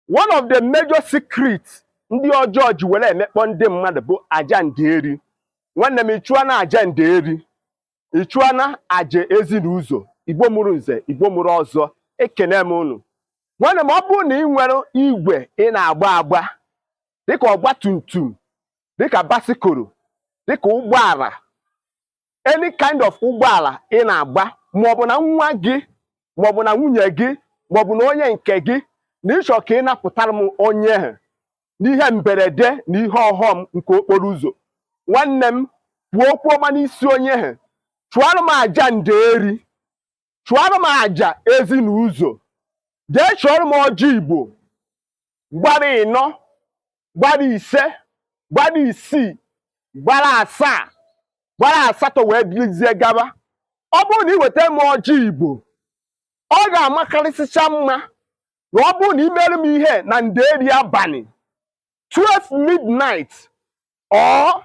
one of the major secrets ndị ọjọọ ji were emekpọ ndị mmadụ bụ aja nderi nwanne m ịchụọna aja nderi ịchụọna aja ezi na ụzọ igbo mụrụ nze igbo mụrụ ọzọ ekene m unu nwanne m ọ bụrụ na ị nwere igwe ị na-agba agba dịka ọgba tum tum dịka basikoro dịka ụgbọala any kind of ụgbọala ị na-agba maọbụ na nwa gị maọbụ na nwunye gị maọbụ na onye nke gị na ịchọ ka ị napụtara m onye ahụ n'ihe mberede na ihe ọghọm nke okporo ụzọ nwanne m kwuo okwu ọma n'isi onye ahụ chụọrọ m aja nderi chụọrọ m aja ezi na ụzọ jee chọọrọ m ọjị igbo gbara ịnọ gbara ise gbara isii gbara asaa gbara asatọ wee dịrịzie gaba ọ bụrụ na ị weta m ọjị igbo ọ ga-amakarịsịcha mma na ọ bụrụ na i mere m ihe na nderi abalị 12 midnight or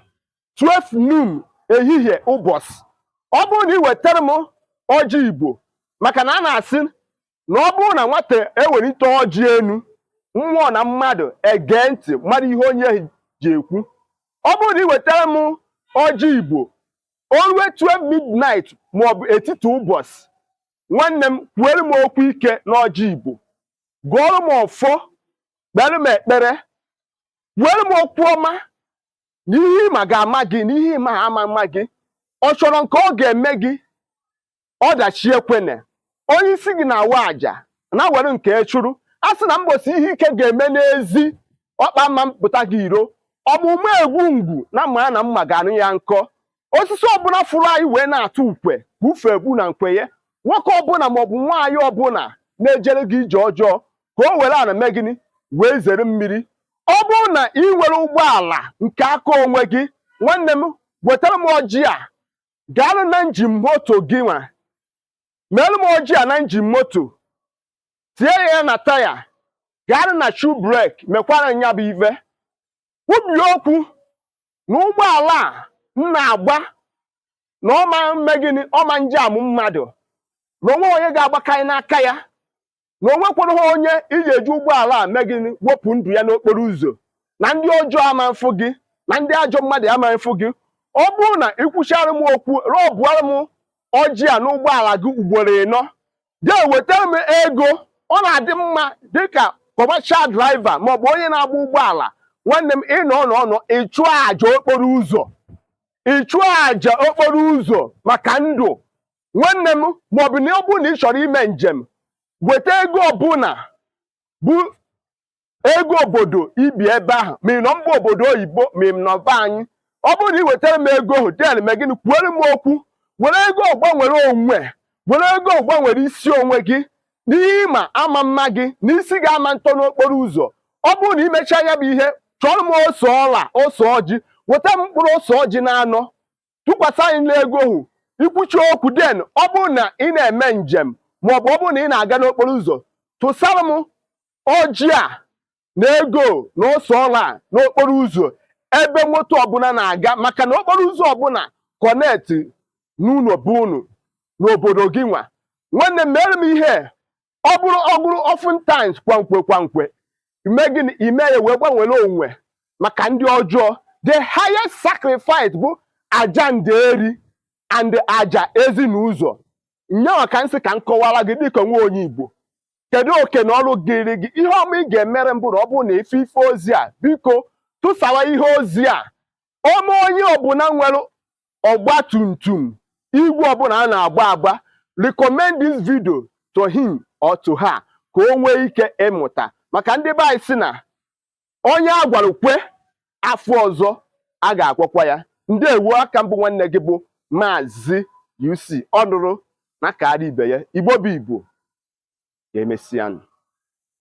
12 noon ehihie ụbọchị ọ bụrụ na ị wetara m ọjị igbo maka na a na-asị na ọ bụrụ na nwata ewelite ọjị enu mmụọ na mmadụ egee ntị marụ ihe onye ji ekwu ọ bụrụ na ị wetara m ọjị igbo o rue 12 midnight maọbụ etiti ụbọchị nwanne m kwuere m okwu ike n'ọjị igbo gụọrọ m ọfọ kpere m ekpere were m okwu ọma na ihe ịma ga-ama gị na ihe ị maha ama mma gị ọ chọrọ nke ọ ga-eme gị ọdachi ekwene onye isi gị na-awa aja na were nke chụrụ a sị na mbosi ihe ike ga-eme n'ezi ọkpa ama mpụta gị iro ọ bụ ma egbu ngwu na mma na mma ga-anụ ya nkọ osisi ọbụla fụrụ anyị wee na-atụ ukwe ka ufe egbu na nkwenye nwoke ọbụla maọbụ nwaanyị ọbụla na-ejere gị ije ọjọọ ka o were ana mee gịnị wee zere mmiri ọ bụrụ na ị nwere ụgbọala nke aka onwe gị nwanne m wetara m ọjị a gaanụ na njin moto gị nwa meere m ọjị a na njin moto tie ya na taya gaanụ na shu brek mekwara nya bụ ive kwubie okwu na ụgbọala a m na-agba na ọ ma mme gịnị ọ ma njam mmadụ na o nweghị onye ga-agbakanye n'aka ya na o nwekwereha onye iji eji ụgbọala a mee gịnị wepụ ndụ ya n'okporo ụzọ na ndị ọjọọ ama mfụ gị na ndị ajọ mmadụ ama mfụ gị ọ bụrụ na i kwuchara m okwu rọbụara m ọjị a n'ụgbọala gị ugboro ịnọ jee weta m ego ọ na-adị mma dịka commercial driver maọbụ onye na-agba ụgbọala nwanne m ịnọ ọnụ ọnụ ịchụ aja okporo ụzọ ịchụ aja okporo ụzọ maka ndụ nwanne m maọbụ na ọ bụrụ na ị chọrọ ime njem weta ego ọbụla bụ ego obodo i bi ebe ahụ ma ị nọ mba obodo oyibo ma ị nọ be anyị ọ bụrụ na ị wetara m ego ahụ then mee gịnị kwuere m okwu were ego ahụ gbanwere onwe were ego ahụ gbanwere isi onwe gị n'ihe ịma ama mma gị na isi gị ama ntọ n'okporo ụzọ ọ bụrụ na i mechaa nya bụ ihe chọrọ m ose ọla ose ọjị weta m mkpụrụ ose ọjị na anọ tụkwasị ya n'ego ahụ i kwuchaa okwu then ọ bụrụ na ị na-eme njem ma ọ bụ ọ bụrụ na ị na-aga n'okporo ụzọ tụsara m ọjị a na ego na ose ọla a n'okporo ụzọ ebe moto ọbụla na-aga maka na okporo ụzọ ọbụla connect n'ụlọ be unu n'obodo gịnwa nwanne m meere m ihe ọ bụrụ ọ bụrụ oftentimes kwa mgbe kwa mgbe i mee gịnị i mee ya wee gbanwere onwe maka ndị ọjọọ the highest sacrifice bụ aja nderi and aja ezinụzọ nyanwa ka m sị ka m kọwara gị dịka nwa onye igbo kedu oke na ọrụ dịịrị gị ihe ọma ị ga-emere m bụ na ọ bụrụ na ị fụ ife ozi a biko tụsawa ihe ozi a o nwee onye ọbụla nwere ọgba tum tum igwe ọbụla a na-agba agba recommend this video to him or to her ka o nwee ike ịmụta maka ndị be anyị sị na onye a gwara kwe afọ ọzọ a ga-agwakwa ya ndeewo a ka m bụ nwanne gị bụ maazị UC ọ nụrụ na kaara ibe ya igbo bụ igbo ka e mesịanụ